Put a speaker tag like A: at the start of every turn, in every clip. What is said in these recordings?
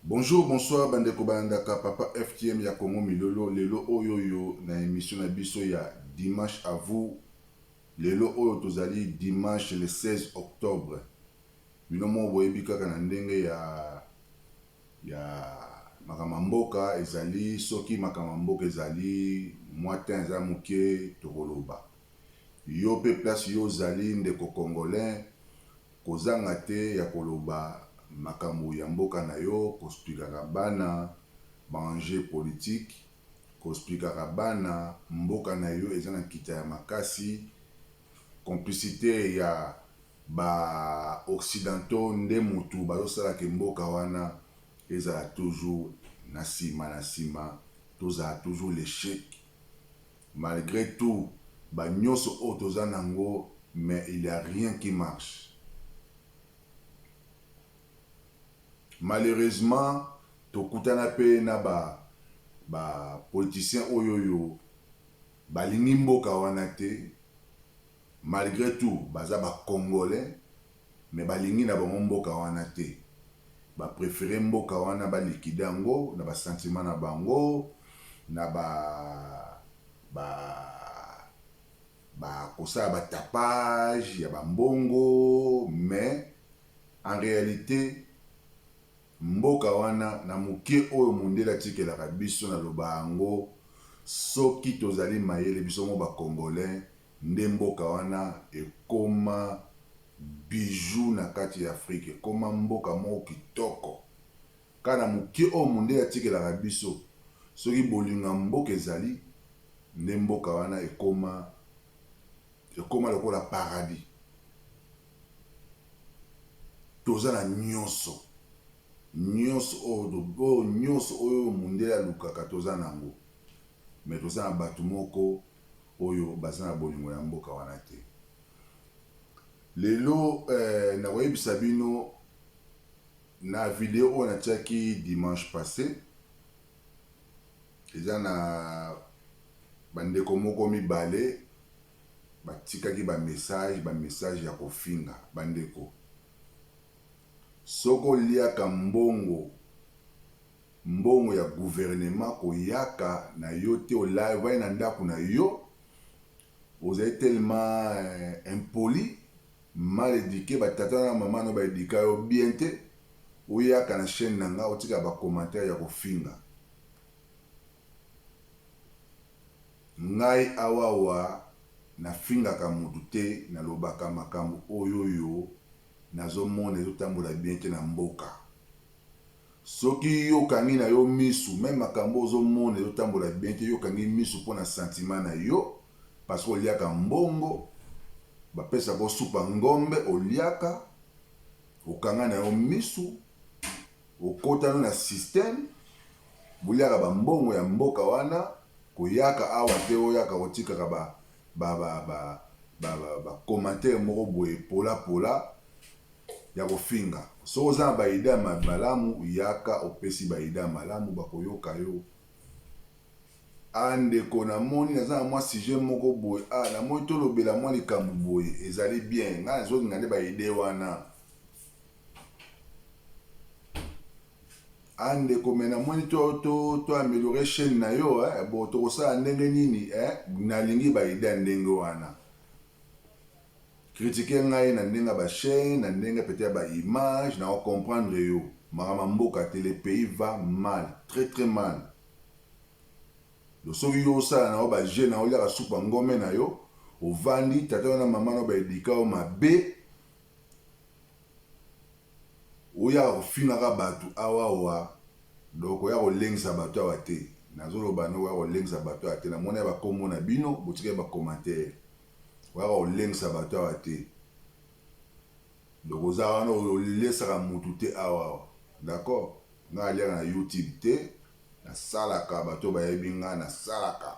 A: Bonjour bonsoir bandeko balandaka papa FTM ya Congo Milolo lelo oyo yo na emission na biso ya dimanche à vous lelo oyo tozali dimanche le 16 octobre bino moko boyebi kaka na ndenge ya ya makambo ya mboka ezali soki makambo ya mboka ezali mwa temps eza moke tokoloba yo mpe place yo ozali ndeko congolais Kozanga te ya koloba makambo ya mboka na yo, kosplikaka bana ba enjeux politiques, kosplikaka bana mboka na yo eza na nkita ya makasi, complicite ya ba occidentaux nde mutu bazo sala que mboka wana ezala toujours na sima na sima, tozala toujours l'echec. Malgre tout ba nioso oyo toza nango mais il ya rien qui marche malheureusement tokutana pe na ba ba politiciens oyoyo balingi mboka wana te. Malgre tout baza ba congolais mais balingi na bango mboka wana te ba prefere mboka wana ba liquide yango na ba sentiment na bango na ba ba ba kosala ba tapage ya ba mbongo mais en realite Mboka wana na moke oyo mondele atikelaka biso na loba yango soki tozali mayele biso moko ba congolais nde mboka wana ekoma bijoux na kati ya afrique ekoma mboka moko kitoko kaka na moke oyo mondele atikelaka biso soki bolingo ya mboka ezali nde mboka wana ekoma ekoma lokola paradis. Toza na nionso. Nionso oyo to oyo nionso oyo mundele alukaka toza nango. Mais toza na batu moko oyo baza na bolingo ya mboka wana te. Lelo eh nako yebisa bino na video oyo natiaki dimanche passe eza na ba ndeko moko mibale batikaki ba message ba message ya kofinga ba ndeko soki oliaka mbongo mbongo ya gouvernement koyaka na yo te olavai na ndako na yo ozali tellement eh, impoli mal éduqué ba tata na maman no ba éduka yo bien te oyaka na chaîne na nga otika ba commentaire ya kofinga Ngai awawa na fingaka mutu te na lobaka makambu oyoyo nazo mona ezo tambola bien te na mboka soki yo okangi na yo misu meme makambu ozo mona ezo tambola bien te yo okangi misu pona sentiment na yo parce que oliaka mbongo ba pesaka yo supa ngombe oliaka okanga na yo misu Okotana na système boliaka ba mbongo ya mboka wana koyaka awa te oyaka kotikaka ba ba ba ba ba ba commentaire moko boye pola pola ya kofinga soki oza na ba idee ya malamu yaka opesi ba idee ya malamu bakoyoka yo ah ndeko namoni naza na mwa sujet moko boye ah namoni tolobela mwa likambo boye ezali bien ngai nazolinga nde ba idee wana Ah ndeko me namoni to to to améliorer chaîne na yo eh, bo tokosala ndenge nini eh, nalingi ba idée ndenge wana kritike ngai na ndenge ya bachaine na ndenge pete ya baimage na ocomprendre yo makama mboka te le pays va mal très très mal soki yo osala na yo baje na oliaka supu ya ngome na yo ovandi tata yo na mama na yo baedika yo mabe Oya ofingaka batu awaoa donc oya kolengisa batu awa te nazo loba no oya kolengisa batu awa te na mona ba kombo na bino botikali ba commentaire oya kolengisa batu awa te donc oza wana olesaka mutu te awaoa d'accord nga aliaka na youtube te na salaka batu bayebi nga na salaka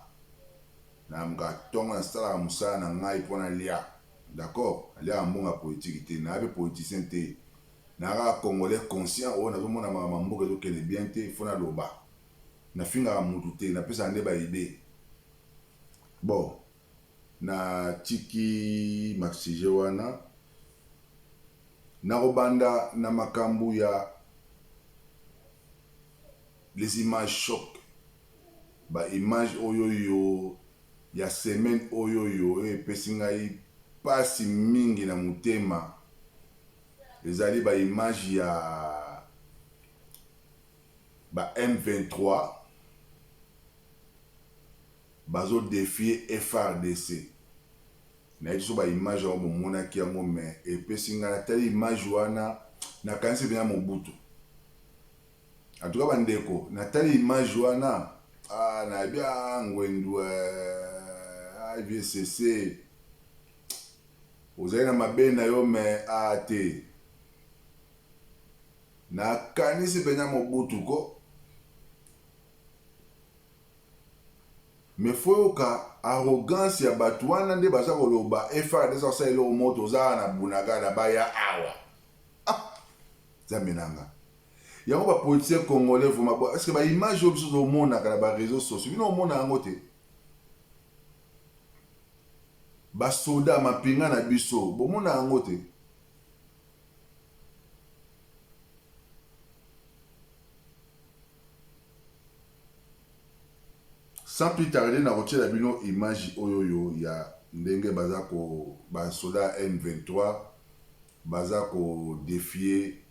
A: na mga tongo na salaka musala na ngai pona lia D'accord aliaka mbongo ya politique te naya pe politicien te naya kaka congolais conscient oyo nazo mona makambo ya mboka ezo kende bien te faut naloba nafingaka mutu te napesaka nde ba idee bon na tiki ma sujet wana nako banda na makambu ya les images choc. Ba images oyoyo ya semaine oyoyo epesi ngai pasi mingi na motema, ezali ba images ya ba M23 bazo defier FARDC. Nayebi te soki ba images yango bomonaki yango mais epesi ngai, natali image wana nakanisi penza Mobutu. En tout cas ba ndeko na tali image wana ah na yebi ah ngwendu eh, ah vieux sese ozali na mabe na yo me ah te na kanisi pena mobutu ko me foyoka arrogance ya bato wana nde baza koloba efard eza kosala eloko moto oza na bunagana baya awa ah, zambe nanga Yango ba politiciens congolais vraiment est ce que ba image oyo biso tozomonaka na ba réseaux sociaux bino omona yango te basoda mampinga na biso bomona yango te sans plus tarder nakotyela bino image oyo oyo ya ndenge baza ko basoda m23 baza kodefie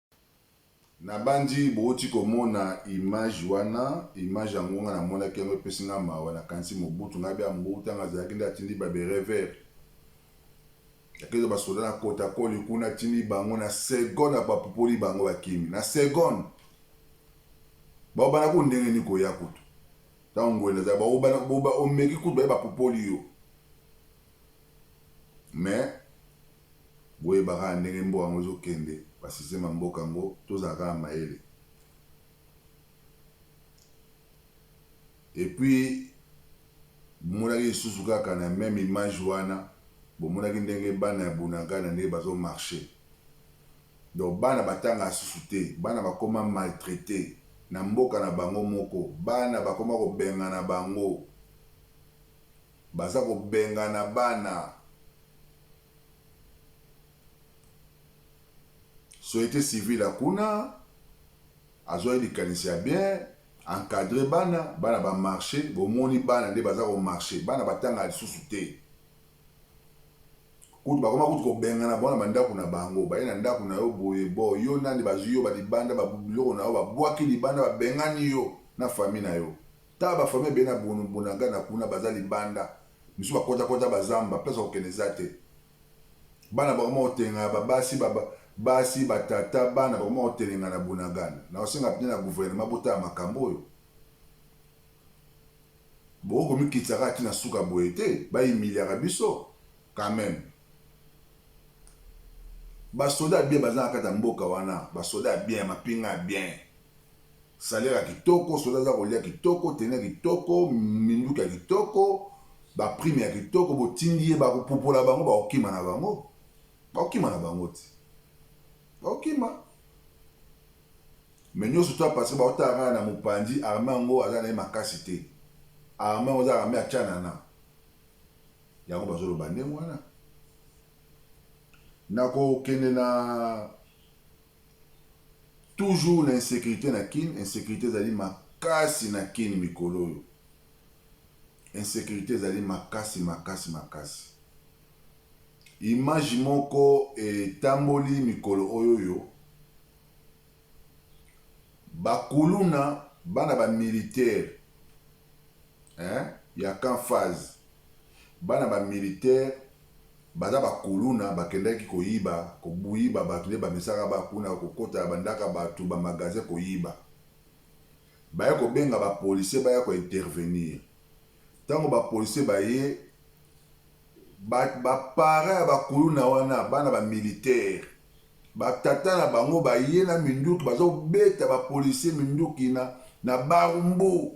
A: Nabanzi bowuti komona image wana, image yango nga namonaki yango epesi nga mawa, nakanisi Mobutu ngabe ya mbu tango azalaki nde atindi ba berets verts yakezo ba soda na kota koli kuna atindi bango na seconde apapupoli bango bakimi na seconde baobana ku ndenge ni koya kutu tango ngwende azali baobana omeki kutu baye bapupoli yo Mais boyeba kaka ndenge mboka yango ezo kende ba système ya mboka yango tozala kaka mayele et puis bomonaki lisusu kaka na meme image wana bomonaki ndenge bana ya bunagana ndenge bazo marche donc bana batanga lisusu te bana bakoma maltraite na mboka na bango moko bana bakoma kobengana bango Baza kobengana bana. Soyete civile ya kuna azuaki likanisi ya bien encadre bana bana ba marche bomoni bana nde baza ko marche bana batanga lisusu te kutu bakoma kutu kobengana bona bandako na bango baye na ndako na yo boye bo yo nani bazwi yo balibanda babiloko na yo babwaki libanda babengani yo na fami na yo Tala ba famille ebele na bunagana kuna baza libanda misusu ba kota kota ba zamba place ya kokende eza te bana bakoma kotengana ba basi ba basi ba tata bana bakoma kotelengana na bunagana na kosenga pne na gouvernement botala makambo oyo bokoki komikitisa kaka ti na suka boye te ba humiliaka biso quand même basoda ya bien baza na kati ya mboka wana basoda ya bien ya mapinga ya bien Salaire ya kitoko, soda aza kolia kitoko, tenue ya kitoko, minduki ya kitoko, ba prime ya kitoko, botindi ye ba kopupola bango ba kokima na bango. Ba kokima na bango ti. Ba kokima. Mais nyoso to parce que ba kotala kaka na mopanzi armée yango aza na ye makasi te. Armée yango aza armée ya Tshanana. Yango bazo loba ndenge wana. Nako kende na Toujours na insecurite na kin, insecurite ezali makasi na kin mikolo oyo. Insecurite ezali makasi makasi makasi. Image moko etamboli mikolo oyo yo ba kuluna bana ba militaire hein ya camp faz bana ba militaire baza ba kuluna bakendaki koyiba kobuyiba batu nde bamesaka ba kuna kokota ba ndaka batu ba magasin koyiba baye kobenga ba policier baya ko intervenir tango ba policier baye ba ba parent ya ba kuluna wana bana ba militaire Ba tata na bango baye na minduki bazo beta ba policiers minduki na na barumbu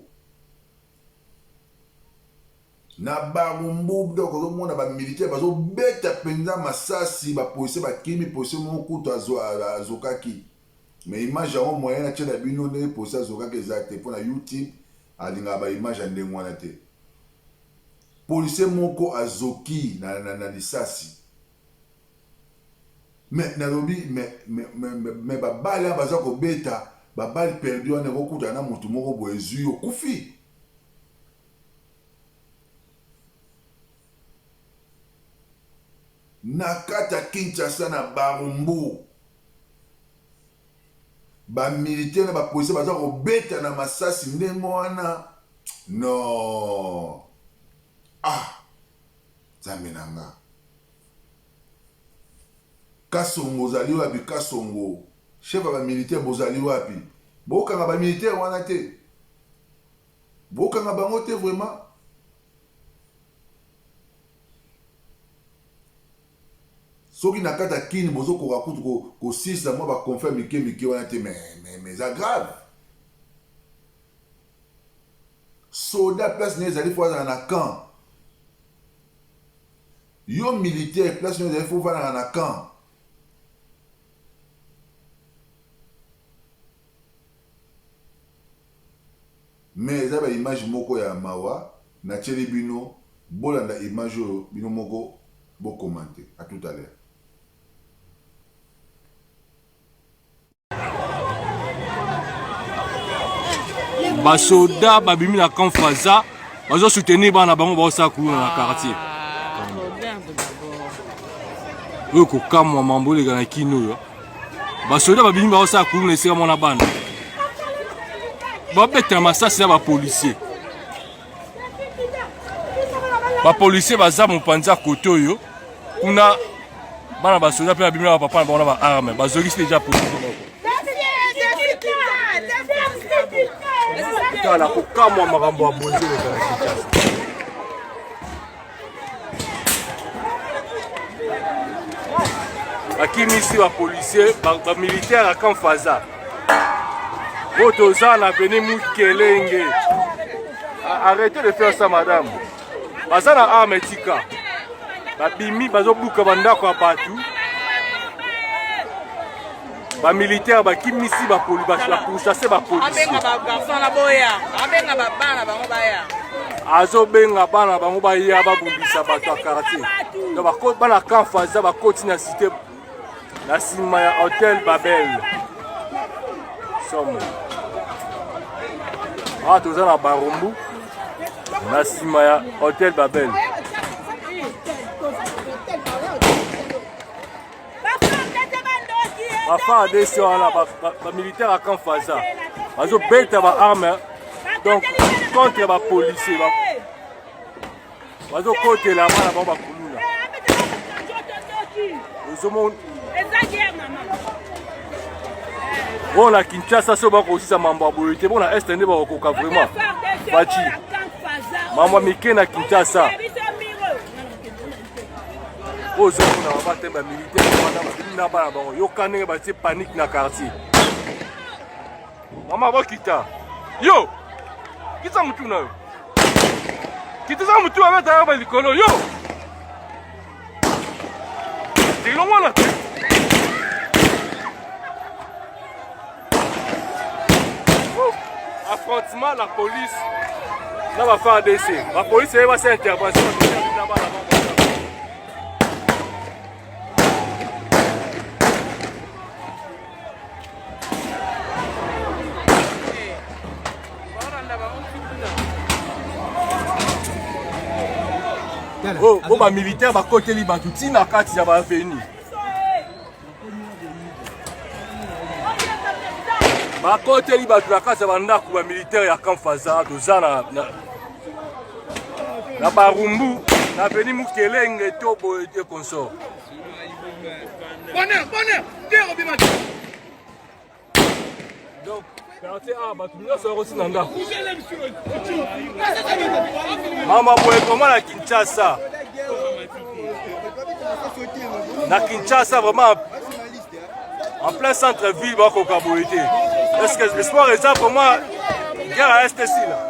A: na barumbu donc ozo mona ba militaires bazo beta penza masasi ba policiers bakimi policier moko kutu azokaki mais image yango moyen na tiela bino nde policier azokaki eza te pona youtube alingaka ba image ya ndenge wana te policier moko azoki na, na, na lisasi Mais nalobi mais mais mais ba balle wana baza kobeta ba balle perdu wana eko kutana na mutu moko boye ezui yo okufi. Na kati ya Kinshasa na Barumbu ba militaire na ba policier baza kobeta na masasi ndenge wana non ah Nzambe na nga. Kasongo ozali wapi kasongo chef ya ba militaire bozali wapi bokanga ba militaire wana te bokanga bango te vraiment soki na kati ya kini bozokoka kutu kosisa mwa baconfere mike mike wana te mais eza grave Soldat place naye ezali faut azala na camp. Yo militaire place naye ezali faut vandaka na camp. Mais eza ba image moko ya mawa na tieli bino bolanda image oyo bino moko bo commente. A tout à l'heure.
B: basoda babimi na camp faza bazo soutenir bana bango baosala kuluna na quartier oyo kokamwa mambo oleka na kino oyo basoda babimi baosala kuluna esika mwana bana babetela masasi na bapolisier bapolisier baza mopanza kote oyo kuna bana basoda mpe babimi na bapapa na bango na baarme bazongisi deja polisi moko tala kokamwa makambo ya bonzela bakimisi bapolisier bamilitaire ya camp faza oyo toza na veni mukelenge arrete de faire ça madame baza na arme etika babimi bazobuka bandako ya bato ba militaire bakimisi bapoli bakursace bapolisi
C: azobenga
B: bana bango baya babundisa bato ya quartier donc bana camp faza bakoti na cité na nsima ya hotel babel somo awa toza na barumbu na nsima ya hotel babel bafardc wana bamilitaire ya camp faza bazobeta baarme donc contre bapolicier bazokotela bana bango bakuluna ozomona oyo na kinshasa soki bakosisa mambo ya boye te mpo na este nde bakokoka vraiment baci mambo ya mike na kinshasa oyo ozomona baba te bamilitaire wana babimi na bana bango yoka ndenge batie panike na quartier mama bokita yo kitisa motu na yo kitisa motu babeta yaba likolo yo elongwana te affrontement la police na ba FARDC ba police ye basi intervention na bana bango oyo oh, oh, bamilitaire bakoteli bato ntina kati ya baaveni bakoteli bato na kati ya bandako ba militaire ya camp faza toza na, na, na barumbu na beni mukelenge to boye te consort bonheur bonheur te obima donc quartier a bato nyonso yakoti na ndako mama boye vraimen na kinshasa na kinshasa vraiment en plein centre ville bakoka boye te est-ce que le sport eza vraiment guerre à est esila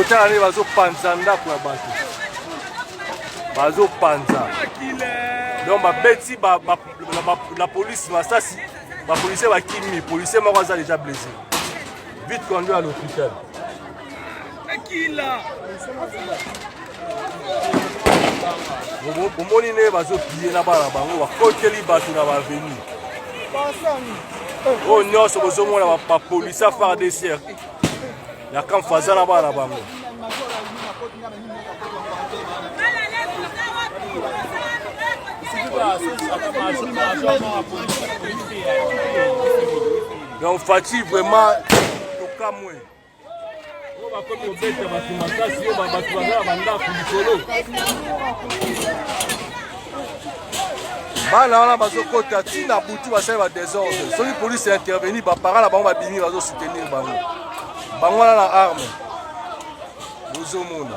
B: otala nde bazopanza ndako ya bato bazopanza donc babeti na polisi masasi bapolisier bakimi polisier moko aza deja blessé vite conduit à l'hôpital bomoni nde bazopiye na bana bango bakoteli bato na baveni oyo oh, nyonso bozomona bapolisi ya fardc ya kamfa aza na bana bango donc fati vraiment tokamwe bana wana bazokota ti na butu basali ba desordre soki polise ya intervenir bapara na bango babimi bazosoutenir bango bango wana na arme bozomona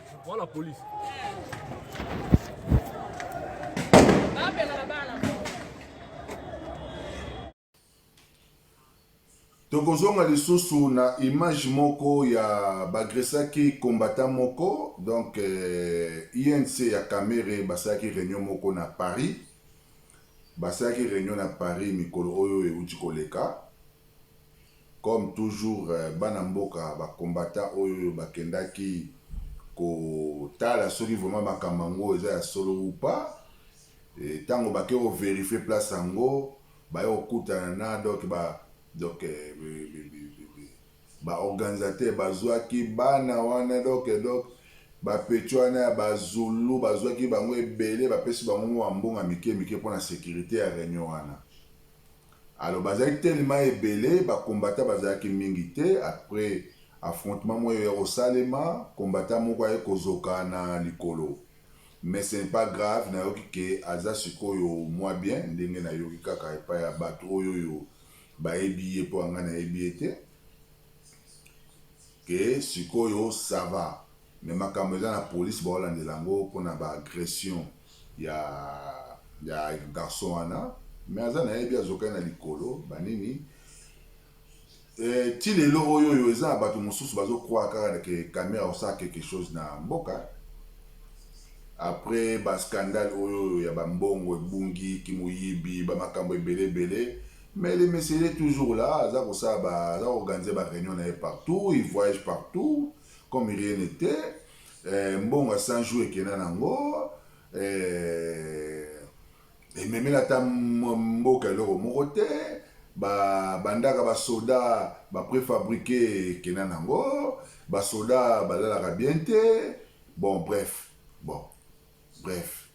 B: Voilà police.
A: tokozonga lisusu na image moko ya bagresaki combattant moko donc eh, inc ya camere basalaki réunion moko na paris basalaki réunion na paris mikolo oyo euti koleka Comme toujours bana mboka ba combattants oyo bakendaki ko tala soki vraiment makambo yango eza ya solo ou pas et tango bake ko verifier place yango baye kokutana na donc ba donc ba organisateurs bazuaki bana wana donc donc ba petits wana ya ba zulu bazuaki bango ebele bapesi bango mua mbonga mike mike pona securite ya reunion wana. Alors bazalaki tellement ebele ba combattants bazalaki mingi te après affrontement moko eya kosalema combattant moko aye kozoka na likolo mais ce n'est pas grave nayoki que aza sikoyo mua bien ndenge nayoki kaka epai ya batu oyo oyo bayebi ye po ya ngai nayebi ye te que sikoyo ça va. Mais makambo eza na police bao landela yango pona ba agression ya ya garçon wana mais aza nayebi azokaki na likolo ba nini eh, ti lelo oyo oyo eza na bato mosusu bazo croire kaka ke kamera akosala quelque chose na mboka après ba scandale oyo oyo ya bambongo ebungi kimoyibi bamakambo ebele ebele mais le mesele toujours là aza kosala aza koorganize ba réunion na ye partout il voyage partout comme rien n'était eh, mbongo ya 100 jours ekenda nango eh, ememela ata mboka eloko moko te bandaka basoda baprefabrike ekenda nango basoda balalaka bien te bon bref bon bref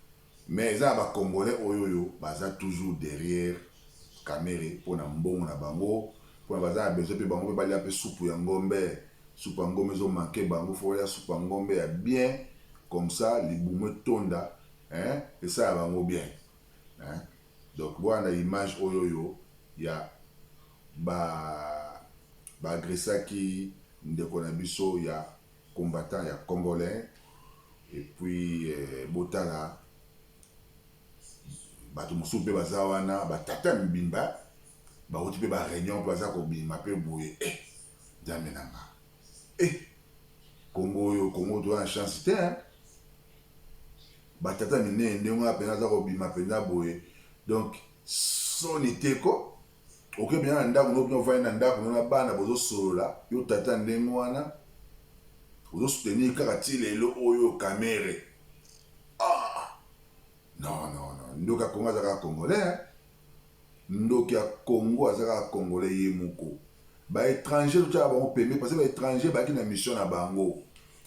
A: Mais eza ya ba congolais oyoyo baza toujours derrière kamere pona mbongo na bango pona baza na besoin pe bango pe balia pe supu ya ngombe supu ya ngombe ezo manque bango faut balia supu ya ngombe ya bien comme ça libumu etonda hein esala bango bien hein donc bolanda image oyoyo ya ba ba agressaki ndeko na biso ya combattant ya congolais et puis botala bato mosusu mpe baza wana ba tata mibimba bawuti mpe ba reunion mpe baza kobima mpe boye eh, nzambe na nga eh, kongo oyo kongo toza na chance te hein? batata minene ndenge wana mpenza aza kobima mpenza boye donc soni te ko Oke bina na ndako no bino vandi na ndako no na bana bozo solola yo tata ndenge wana ozo soutenir kaka ti lelo oyo kamere ah non non non ndoki ya Congo aza kaka congolais hein? ndoki ya Congo aza kaka congolais ye moko ba étranger totyaka bango pembe parce que ba étranger bayaki na mission na bango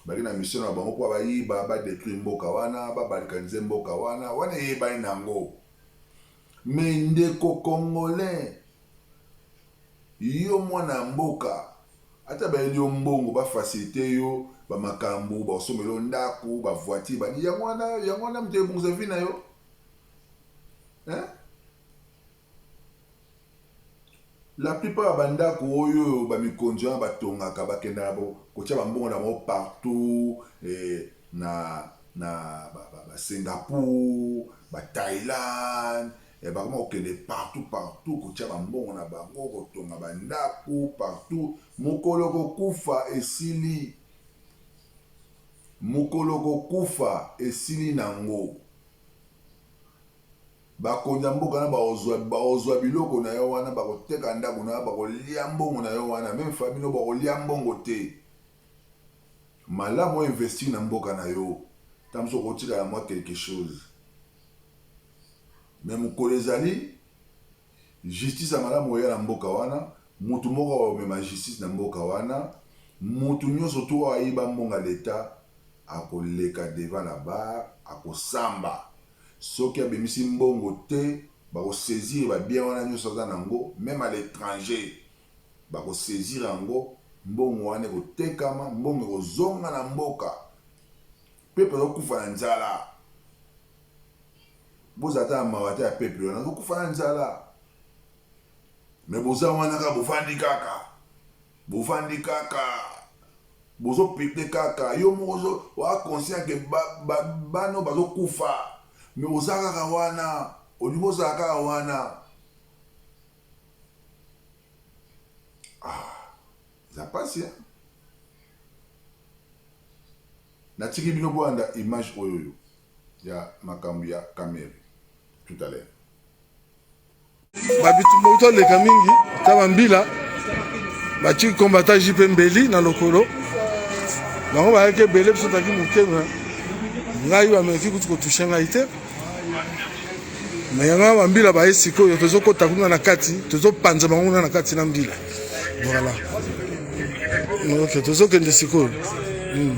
A: baki na mission na bango mpo bayiba badetruire mboka wana babalikanize mboka wana wana eyebani na yango Mais ndeko congolais yo mwana ya mboka ata bayeli yo mbongo ba facilite yo ba makambu ba sombela yo ndaku ba voiture ba nini yango wana yango wana mutu ebongisa vie na yo hein La plupart ya ba ndaku oyo ba mikonzi wana ba tongaka ba kendaka ko tia ba mbongo na bango partout na na ba Singapour, ba Thailand ba koma ko kende partout partout ko tia ba mbongo na bango ko tonga ba ndaku partout mukolo oko kufa esili mukolo oko kufa esili nango. Bakonzi ya mboka na bakozua biloko na yo wana, bakoteka ndako na yo, bakolia mbongo na yo wana, meme famille no bakolia mbongo te. Malamu o investir na mboka na yo, ata mosusu okotikala mwa quelque chose. Mais mokolo ezali justice ya malamu oya na mboka wana, mutu moko akomema justice na mboka wana, mutu nyonso tu oyo ayiba mbongo ya l'etat akoleka devant la barre, akosamba. Soki abimisi mbongo te bako saisir ba biens wana nionso aza na ngo meme à l'etranger bako saisir yango mbongo wana eko tekama mbongo eko zonga na mboka peuple azo kufa na nzala bozala ata na mawa ata ya peuple wana azo kufa na nzala Mais boza wana kaka bovandi kaka bovandi kaka bozo pete kaka yo moko ozo oa conscient ke ba, ba, bana oyo bazokufa me oza kaka wana olingi ozala kaka wana ah, eza mpasi eh? natiki bino boyanda image oyo oyo ya makambo ya kamere tout à l'heure
D: babitumba uto aleka mingi ta bambila batiki kombata jipe mbeli na lokolo bango bayaki ebele biso tozalaki moke me ngai bameki kutu kotushe ngai te me yango bambila baye sikoyo tozokota kuna na kati tozopanza bango kuna na kati na mbila voilà ok tozokende sikoyo hmm.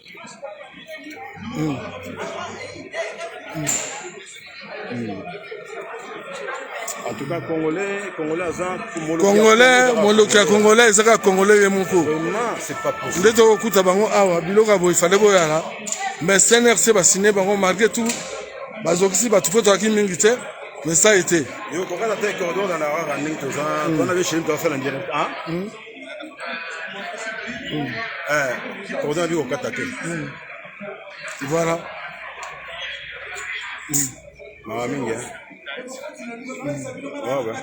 E: Mm. Mm. Mm. En tout cas, Congolais, Congolais aza Congolais, moloki ya Congolais ezaka Congolais ye moko. Nde tokokuta bango
D: awa biloko ya boye fale boyala. Mais CNRC basine bango malgré tout bazokisi bato mpo tozalaki mingi te mais ça a été. Yo kokata te
E: cordon na la rara ndenge toza. Wana le chéri doit faire en direct. Ah? oza na bikokata te
D: voilà
E: mawa mingi wawa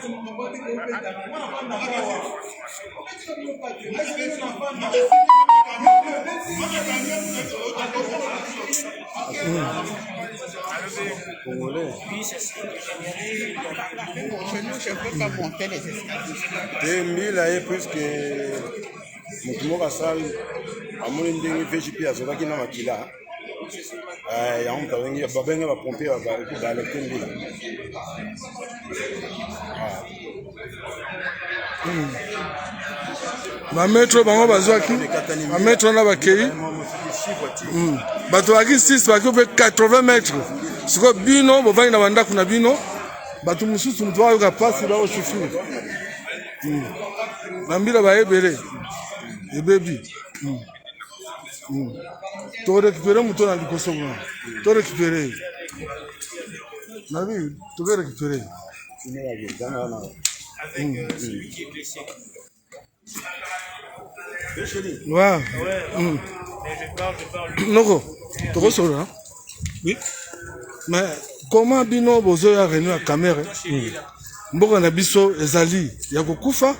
E: Congolais. Chez nous, je peux pas monter les escaliers. te mbila ye puiske moto moko asali amoni ndenge vgp azokaki na makila Eh, yango moto abengi babenge bapompier balekte mbila Ah.
D: bametro hmm. bango bazwaki bametro wana bakei hmm. bato baki 6 baki mpe 80 mètre sikoyo bino bovandi na bandako na bino bato mosusu moto bayoka mpasi baosufrir hmm. bambila baye ebele ebebi tokorekipere moto na liboso kuna torekipere nabi tokorekipere Wow. Mm. Noko, tokosolola. Hein? Oui. Mais comment bino bozoya réunion ya Kamerhe? Mm. mboka na biso ezali ya kokufa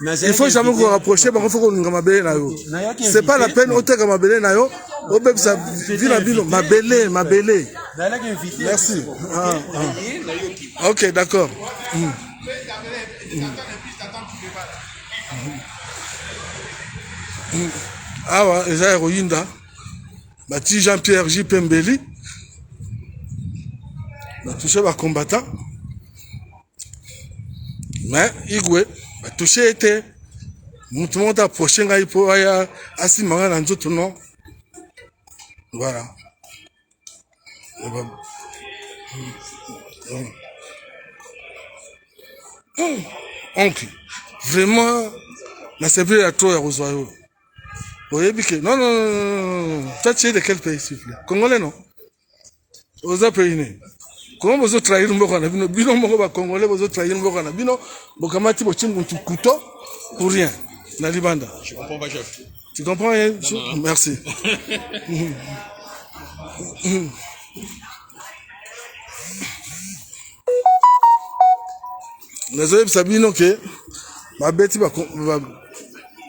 D: il faut jamais ko rapprocher bango faut kolinga mabele na yo c'est pas la peine oteka mabele na yo obebisa vi na bino mabele mabele merci ah, ah. ok d'accord mm. Mm. Mm. awa eza ya koyinda bati jean pierre j pembeli batouche bacombattant mais igwe batouche ye te motu moko te aproche ngai mpo aya asimba ngai na nzoto no voilà oncle vraiment na sepeli ya trop ya kozwa yo oyebi ke non non non toi tu es de quel pays s'il vous plaît congolais non oza pays nini koma bozo trahir mboka na bino bino moko ba congolais bozo trahir mboka na bino bokamati bochimbu couteau pour rien na libanda tu comprends pas chef
F: tu comprends rien non,
D: non, non. merci nazoyebisa bino ke babeti ba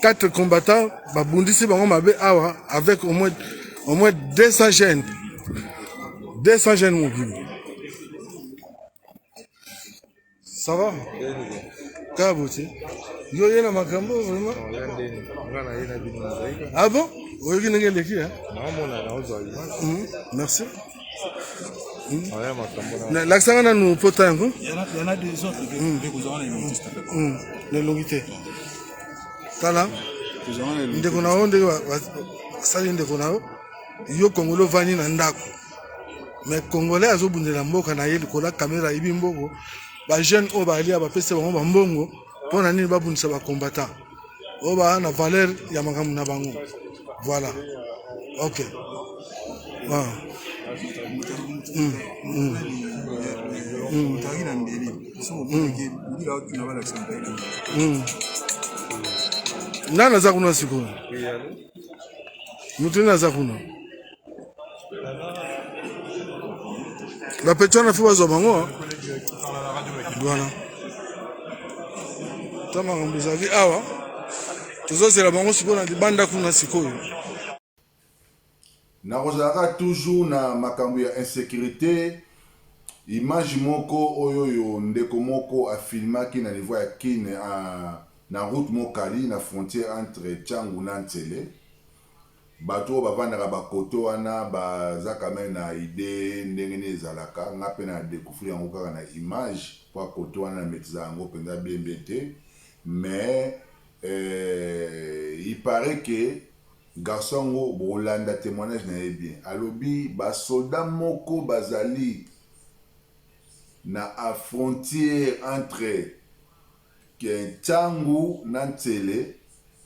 D: 4 combattants babundisi bango mabe awa avec au moins au moins 200 jeunes 200 jeunes mobimba ça va kaka bote yo ye na makambo vraiment ah bon oyoki ndenge eleki merci hmm? lakisanga nanu pota yango
G: hmm. hmm. na
D: elongi te tala ndeko na yo ndenge basali ndeko na yo yo kongolo ovandi na ndako me congolais azobundela mboka na ye likolo ya kamera ayibi mbongo bajeune oyo balia bapesi bango bambongo mpo na nini babundisa ba combattant oyo baa na valeur ya makambo na bango voilà ok ah. mm. Mm. Mm. Mm. nani aza kuna sikoyo moto nini aza kuna bapeti wana fo bazwa bango wana ta makambo ezali awa tozozela bango sikoyo na libanda kuna sikoyo
A: nakozalaka toujours na makambo ya insécurité image moko oyo oyo ndeko moko afilmaki na niveau ya kin na route mokali na frontière entre changu na nsele Batu oyo bavandaka ba cote wana ba za quand meme na idee ndenge nini ezalaka, nga pe na decouvrir yango kaka na image pwa cote wana na maitrisa yango penza bien bien te mais euh il parait que garçon yango boko landa temoignage na ye bien alobi ba soldat moko ba zali na a frontier entre Ke tshangu na ntsele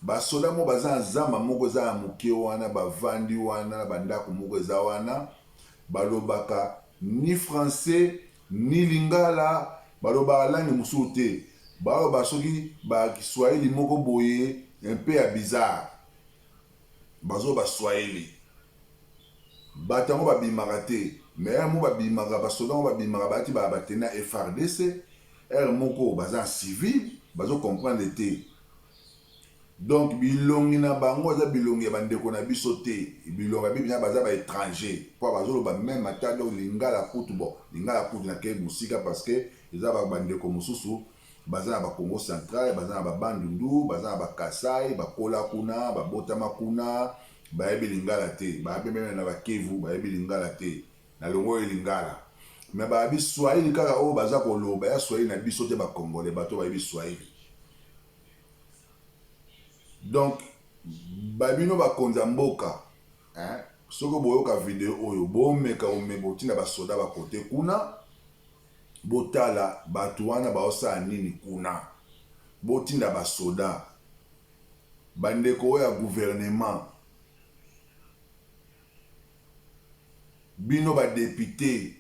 A: ba soda moko baza na zamba moko eza ya moke wana ba vandi wana na ba ndaku moko eza wana ba lobaka ni francais ni lingala ba lobaka langue mosusu te ba loba soki ba kiswahili moko boye un peu ya bizarre bazo loba swahili Batu yango ba bimaka te mais heure moko ba bimaka ba soda yango ba bimaka ba lati ba tenue ya FARDC heure moko baza en civil bazo comprendre te donc bilongi na bango eza bilongi ya ba ndeko na biso te bilongi ya bibi baza ba etranger po bazo loba meme ata donc lingala kutu bon lingala kutu na ke musika parce que eza ba ndeko mususu Baza na ba kongo central, baza na ba bandundu, baza na ba kasai, bakola kuna, babotama kuna, bayebi lingala te, babe meme na ba kivu bayebi lingala te, nalongoli lingala mais babi swahili kaka oyo baza koloba ya swahili na biso te ba congolais bato bayebi swahili donc babino bakonzi ya mboka eh, soki boyoka video oyo bomeka omeka otinda basoda bakote kuna Botala batu wana bazosala nini kuna botinda ba soda ba ndeko oyo ya gouvernement bino ba depute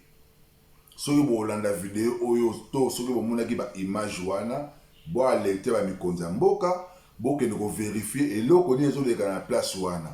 A: soki bolanda video oyo to soki bomonaki ba image wana bo alerte ba mikonzi ya mboka bokende ko verifier eloko nini ezoleka na place wana.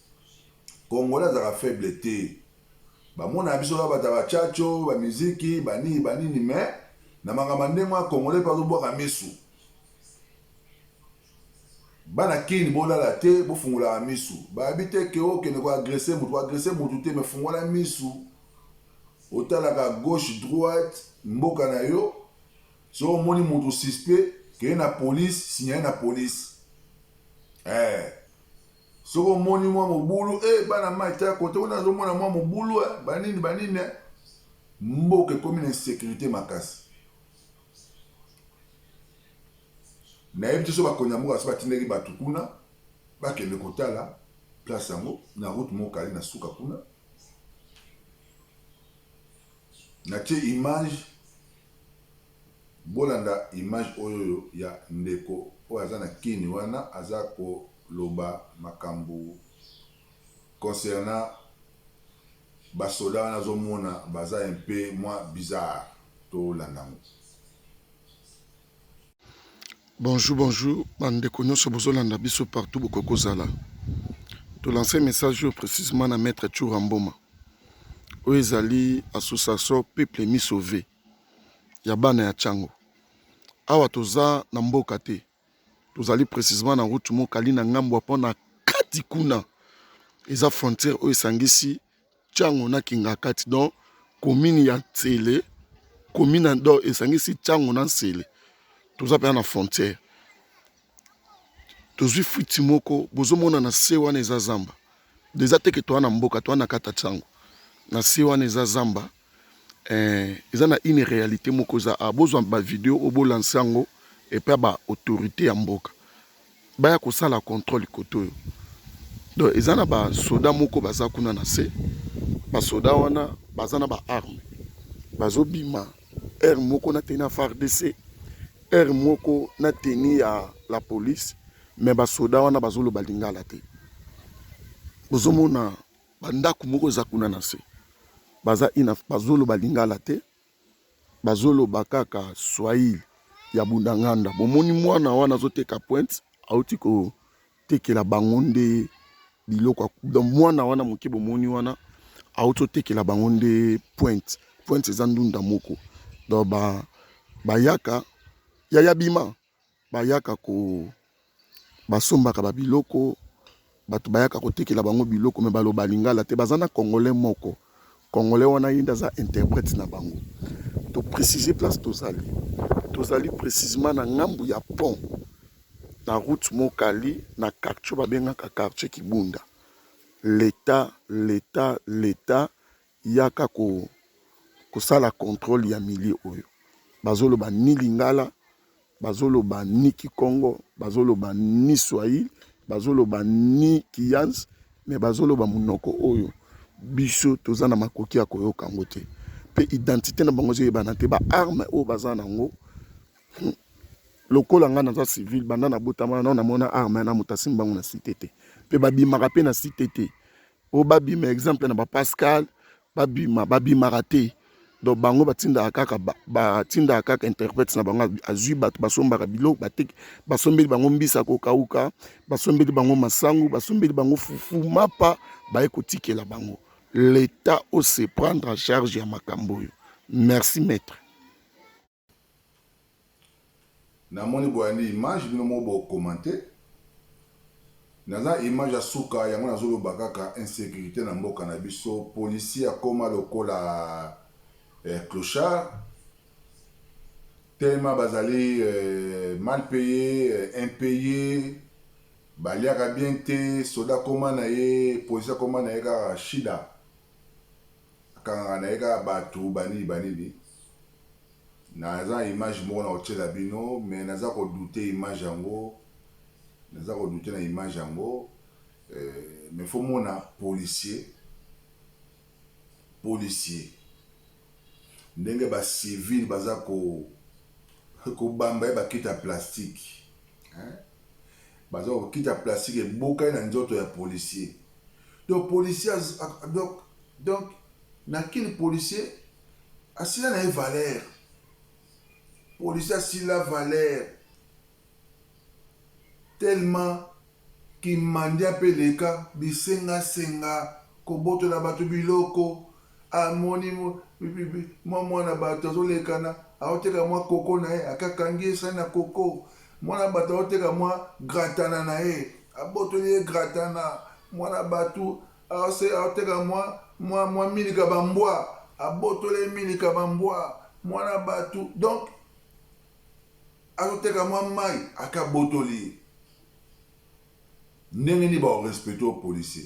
A: congolais azalaka faible te bamona biso kaka bato ya bachacho bamiziki banini banini me na makambo ya ndenge wana congolais mpe azobwaka misu bana kini bolala te bofungolaka misu bayebi te ke okende oh, koagrese motu koagrese motu te me fungola misu otalaka gauche droite mboka na yo so omoni motu suspect keye na polise signale na polise eh. Soki omoni mwa mobulu, eh bana mayi tala kote kuna azomona mwa mobulu eh, banini banini eh. Mboka ekomi na insecurite makasi. Nayebi te soki bakonzi ya mboka basi batindaki bato kuna bakende kotala place yango na route mokali na suka kuna natie image Bolanda image oyoyo ya ndeko oyo aza na kin wana aza koloba makambu concernant ba soda wana azo mona baza un peu mwa bizarre tolanda ngo.
D: Bonjour bonjour ba ndeko nionso bozo landa biso partout bokoki kozala to lancer message oyo precisement na maitre Tshoura Mboma oyo ezali association peuple mis sauve ya bana ya tshango awa toza na mboka te tozali precisement na route moko ali na ngambo ya mpona kati kuna eza frontiere oyo esangisi tshango na kingakati donc komine ya nsele komine do esangisi tshango na nsele toza mpenza na frontiere tozwi fwiti moko bozomona na se wana eza zamba deza teke toa na mboka toa na kata tshango na se wana eza zamba Eh, eza na une realite moko eza a ah, bozwa ba video obo lance yango epa ba autorité ya mboka baya kosala contrôle koto oyo donc eza na ba soda moko baza kuna na se ba soda wana baza na ba arme bazobima heure moko na teni ya fardc heure moko na teni ya la police me basoda wana bazoloba lingala te bozomona ba ndaku moko eza kuna na se baza ina bazoloba lingala te bazoloba kaka swahili ya bundanganda bomoni mwana wana azoteka pointe auti kotekela bango nde biloko donc mwana wana moke bomoni wana auti otekela bango nde pointe pointe eza ndunda moko donc ba bayaka yaya bima bayaka ko basombaka ba biloko bato bayaka kotekela bango biloko me baloba lingala te baza na congolais moko congolais wana ye nde aza interprète na bango to précise place tozali tozali précisement na ngambu ya pont na route mokali na quartier babengaka quartier kibunda leta leta leta Yaka ko kosala controle ya milieu oyo bazoloba ni lingala bazoloba ni kikongo bazoloba ni swahili bazoloba ni kiyans me bazoloba monoko oyo biso toza na makoki ya koyoka yango te mpe identité na bango ezoyebana te baarme oyo baza na yango hmm, lokola ngai naza civile banda nabotamana nao namona arme na moto asimbi bango na site te mpe babimaka mpe na site te oyo babima exemple na ba pascal babima babimaka te donc bango batindaka kaka batindaka kaka interprète na bango azwi bato basombaka biloko bateki basombeli bango mbisi ya kokauka basombeli bango masangu basombeli bango fufu mapa baye kotikela bango l'etat ose prendre en charge ya makambo oyo merci maître
A: Na moni boyandi image bino moko bo commente naza image ya suka yango nazo loba kaka insecurite na mboka na biso policier akoma lokola eh, clochard tellement bazali eh, mal paye eh, impaye baliaka bien te soda koma na ye policier akoma na ye kaka shida Akangaka naye kaka batu ba nini ba nini. Naza na image moko nako tiela bino mais naza ko douter image yango naza ko douter na image yango mais faut mona policier policier ndenge ba civile baza ko ko bamba ye ba kiti ya plastique hein. Baza ko kita plastique ebokani na nzoto ya policier. Donc policier donc donc na kin policier asila na ye valeur. Policier asila valeur. Tellement kimandi ape leka bisenga senga kobotola bato biloko Amoni mwa mwana bato azolekana, azoteka mwa koko na ye, akakangi ye sai na koko. Mwana bato azoteka mwa gratana na ye, abotoli ye gratana. Mwana bato azoteka mwa milika ba mbwa, abotoli ye milika ba mbwa. Mwana bato donc azoteka mwa mai, aka abotoli ye. Ndenge nini ba respecter policier?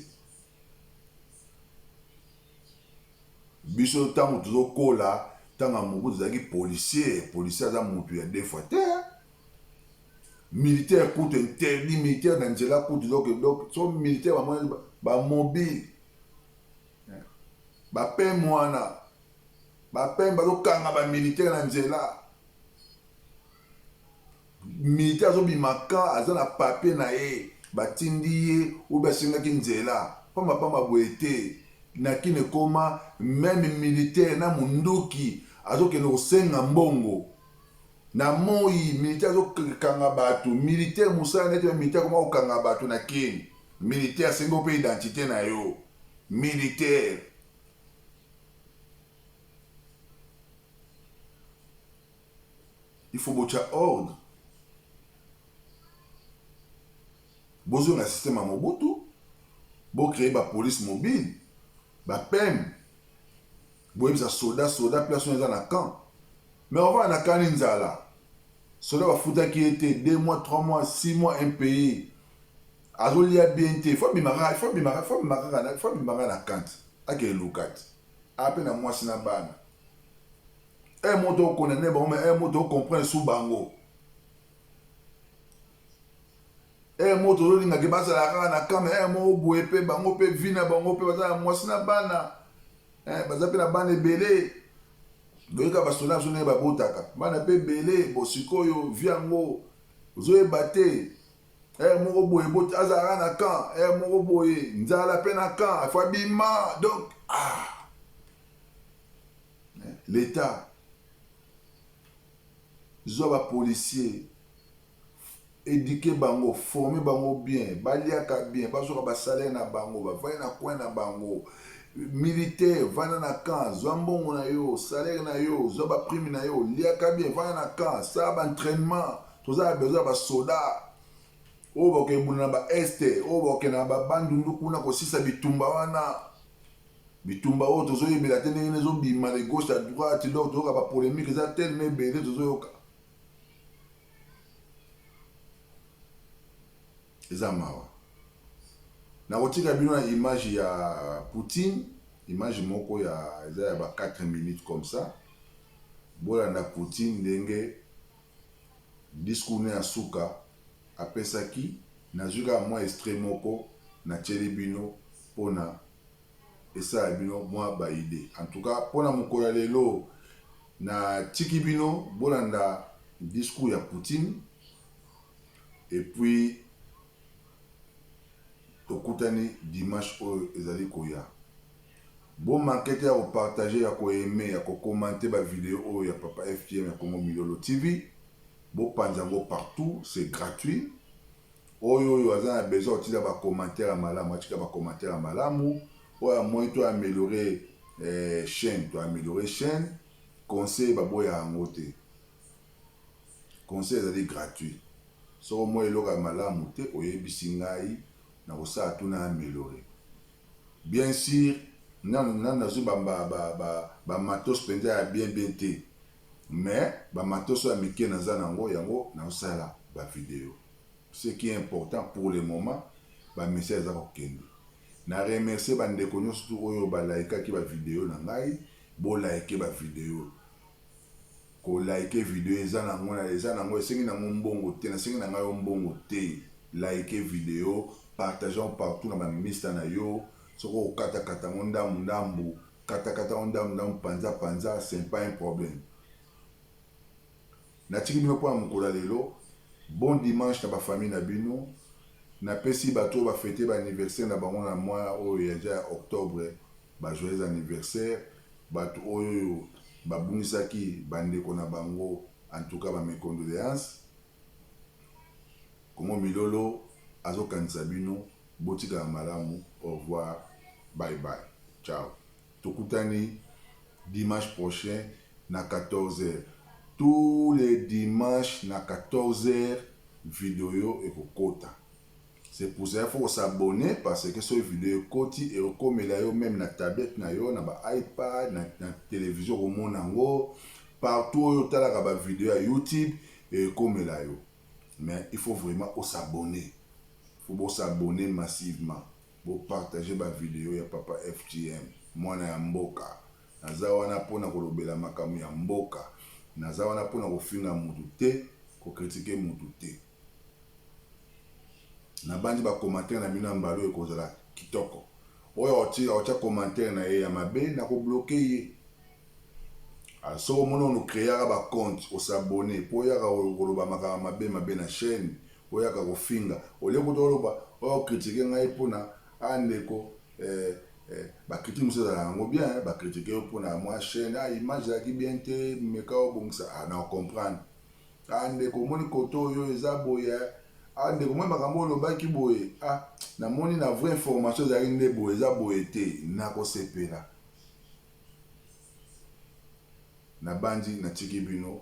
A: biso ntango tozokola ntango ya mobutu ezalaki policier policier aza motu ya defwa te militaire kutu interdit militaire na nzela kutu donc donc so militaire bamoni bamobile bapeme wana bapeme bazokanga bamilitaire na nzela militaire azo bima ka aza na papier na ye ba tindi ye ou bien asengaki nzela pamba pamba boye te na kin ekoma meme militaire na munduki azo kende ko senga mbongo na moyi militaire azo kanga batu militaire musala na ye te militaire akoma ko kanga batu na kin militaire asengi yo pe identite na yo militaire Il faut botia ordre. Bozonga système ya Mobutu, bo créer ba police mobile, ba PM. Boyebisa soda soda place oyo eza na camp. Mais ovana na kani nzala. Soda bafutaki ye te 2 mois, 3 mois, 6 mois impayé. Azolia bien te. Faut bimaka, faut bimaka, faut bimaka, faut bimaka na kant. Ake lukat. Ape na mwasi na bana. un mot to condamner bango mais un mot to comprendre sous bango un mot tozolingaki bazala kaka na kame un mot oboye mpe bango mpe vi na bango mpe baza na mwasi na bana eh, baza mpe na bana ebele boyeka basoda biso ndenge babotaka bana mpe ebele bo sikoyo vi yango ozoyeba te ere eh, moko boye boti azalaka na camp ere eh, moko boye nzala mpe na camp afo abima donc ah L'etat zua ba policier eduque bango forme bango bien baliaka bien bazuaka ba salaire na bango bavandi na coin na bango militaire vanda na camp zua mbongo na yo salaire na yo zua ba prime na yo liaka bien vanda na camp sala ba entraînement toza na besoin ya ba soda oyo bakebunda na ba este oyo bakenda na ba bandundu kuna kosisa bitumba wana Bitumba oyo tozo yebela te ndenge nini ezo bima de gauche à droite donc toyoka ba polemique eza tellement ebele tozo yoka. Eza mawa. Nakotika bino na image ya Poutine, image moko ya eza ya ba 4 minutes comme ça. Bolanda Poutine ndenge discours ne ya suka apesaki nazwi kaka mwa extrait moko natieli bino pona esa ya bino mwa ba idee en tout cas pona mokolo ya lelo na tiki bino bolanda discours ya poutine et puis tokutani dimanche oyo ezali koya bo manquete ya ko partager ya ko aimer ya ko commenter ba video oyo ya papa FTM ya Congo Milolo TV bo panza ngo partout c'est gratuit Oyo oyo aza na besoin ya kotinda ba commentaires ya malamu atika ba commentaires ya malamu, oyo amoni to ameliorer chaine to ameliorer chaine, conseil baboyaka yango te, conseil ezali gratuit, soki omoni eloko ya malamu te oyebisi ngai nakosala tout na ameliorer, bien sur nanu nanu nazui ba ba ba ba matos penza ya bien bien te mais ba matos oyo ya mike naza nango yango nazosala ba video. Ce qui est important pour le moment ba message eza ko kende. Na remercier ba ndeko nionso tout oyo ba likaki ba video na ngai. Bo like ba video. Ko like video eza na ngo na eza na ngo esengi na ngo mbongo te. Na sengi na ngai yo mbongo te. Like video, partage ngo partout na ba mista na yo. Soki oko kata kata ngo ndambu ndambu, kata kata ngo ndambu ndambu, panza panza, c'est pas un problème. Natiki bino mpo na mokolo ya lelo. Bon dimanche na ba famille na bino. Napesi bato oyo ba feter ba anniversaire na bango na mois oyo ya ja ya octobre ba joyeux anniversaire. Bato oyoyo babungisaki ba ndeko na bango en tout cas ba mes condoleances. Congo Milolo azokanisa bino. Botikala malamu. Au revoir. Bye bye. Ciao. Tokutani dimanche prochain na 14 heures. Tous les dimanches na 14 heures video ekokota. C'est pour cela il faut ko s'abonner parce que soki video ekoti ekokomela yo meme na tablette na yo, na ba iPad, na, na television okomona yango partout oyo otalaka ba video ya YouTube ekomela yo. Mais il faut vraiment o s'abonner. Faut bo s'abonner massivement. Bo partager ba video ya papa FGM mwana ya mboka naza wana pona kolobela makambo ya mboka naza wana pona kofinga mutu te ko critique mutu te nabanzi ba commentaire na bino ya mbala oyo ekozala kitoko oyo akotia commentaire na ye ya mabe nako bloke ye Ah, soki omoni onu creaka bacompte osabone mpo oyaka koloba makambo mabe mabe na chaîne Oyaka kofinga au lieu kutu oloba o critiquer ngai pona ah ndeko eh eh ba critiques mususu ezalaka nango bien hein ba critiquer yo pona mua chaine ah image ezalaki bien te meka obongisa ah nako comprendre ah ndeko omoni cote oyo eza boye eh ah ndeko omoni makambo oyo olobaki boye ah namoni na vrai information ezalaki nde boye eza boye te nako sepela nabanzi natiki bino.